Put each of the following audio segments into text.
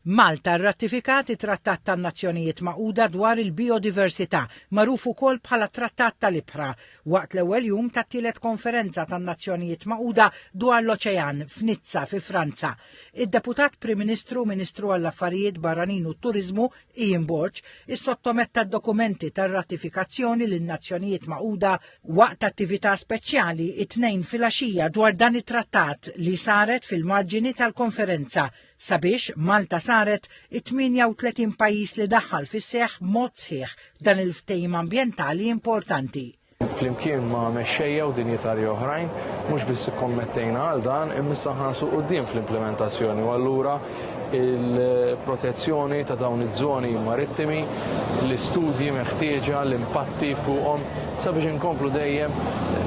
Malta rratifikat it-Trattat tan-Nazzjonijiet Magħquda dwar il-Bijodiversità, magħruf ukoll bħala t-Trattat tal-Ibħra, waqt l-ewwel jum tat-tielet Konferenza tan-Nazzjonijiet Magħquda dwar l-Oċean f'Nizza fi Franza. Id-Deputat Prim Ministru u Ministru għall-Affarijiet Barranin u t-Turiżmu Ian Borg issottometta d-dokumenti tar-ratifikazzjoni lin-Nazzjonijiet Magħquda waqt attività speċjali t-Tnejn filgħaxija dwar dan it-Trattat li saret fil-marġini tal-konferenza sabiex Malta saret it-38 pajjiż li daħħal fis-seħħ b'mod sħiħ dan il-ftehim ambjentali importanti. Flimkien ma' mexxejja u dinjitarji oħrajn, mhux biss ikkommettejna għal dan, imma issa nħarsu quddiem fl-implimentazzjoni u allura il-protezzjoni ta' dawn iż-żoni marittimi, l-istudji meħtieġa, l-impatti fuqhom sabiex inkomplu dejjem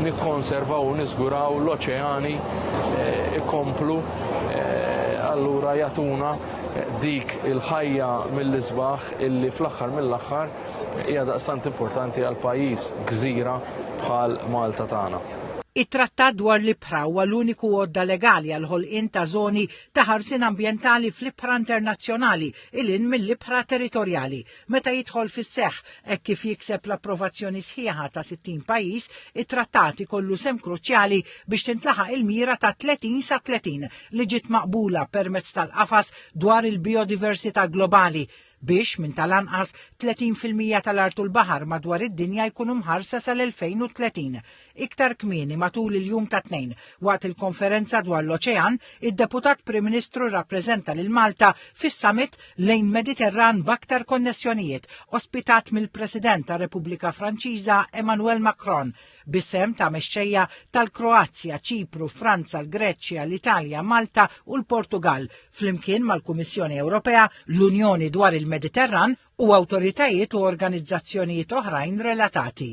nikkonservaw u niżguraw l-oċeani eh, ikomplu eh, allura jatuna dik il-ħajja mill-isbaħ illi fl-aħħar mill-aħħar Hija daqstant importanti għal pajjiż gżira bħal Malta tagħna. It-Trattat dwar l-Ibħra huwa l-uniku għodda legali għall-ħolqien ta' żoni ta' ħarsien ambjentali fl-ibħra internazzjonali il hinn mill-ibħra territorjali. Meta jidħol fis-seħħ, hekk kif jikseb l-approvazzjoni sħiħa ta' 60 pajjiż, it-Trattat ikollu sehem kruċjali biex tintlaħaq il-mira ta' 30 sa 30 li ġiet maqbula permezz tal-Qafas dwar il-Bijodiversità Globali, biex minn tal-anqas 30 fil-mija tal-art u l-baħar madwar id-dinja jkunu mħarsa sal-2030. Iktar kmieni matul il-jum tat-Tnejn, waqt il-konferenza dwar l-oċean, id-Deputat Prim Ministru rrappreżenta lil Malta fis-Summit lejn Mediterran b'aktar konnessjonijiet, ospitat mill-President tar-Repubblika Franċiża Emmanuel Macron, bis-sehem ta' mexxejja tal-Kroazja, Ċipru, Franza, l-Greċja, l-Italja, Malta u l-Portugall, flimkien mal-Kummissjoni Ewropea, l-Unjoni dwar il-Mediterran u awtoritajiet u organizzazzjonijiet oħrajn relatati.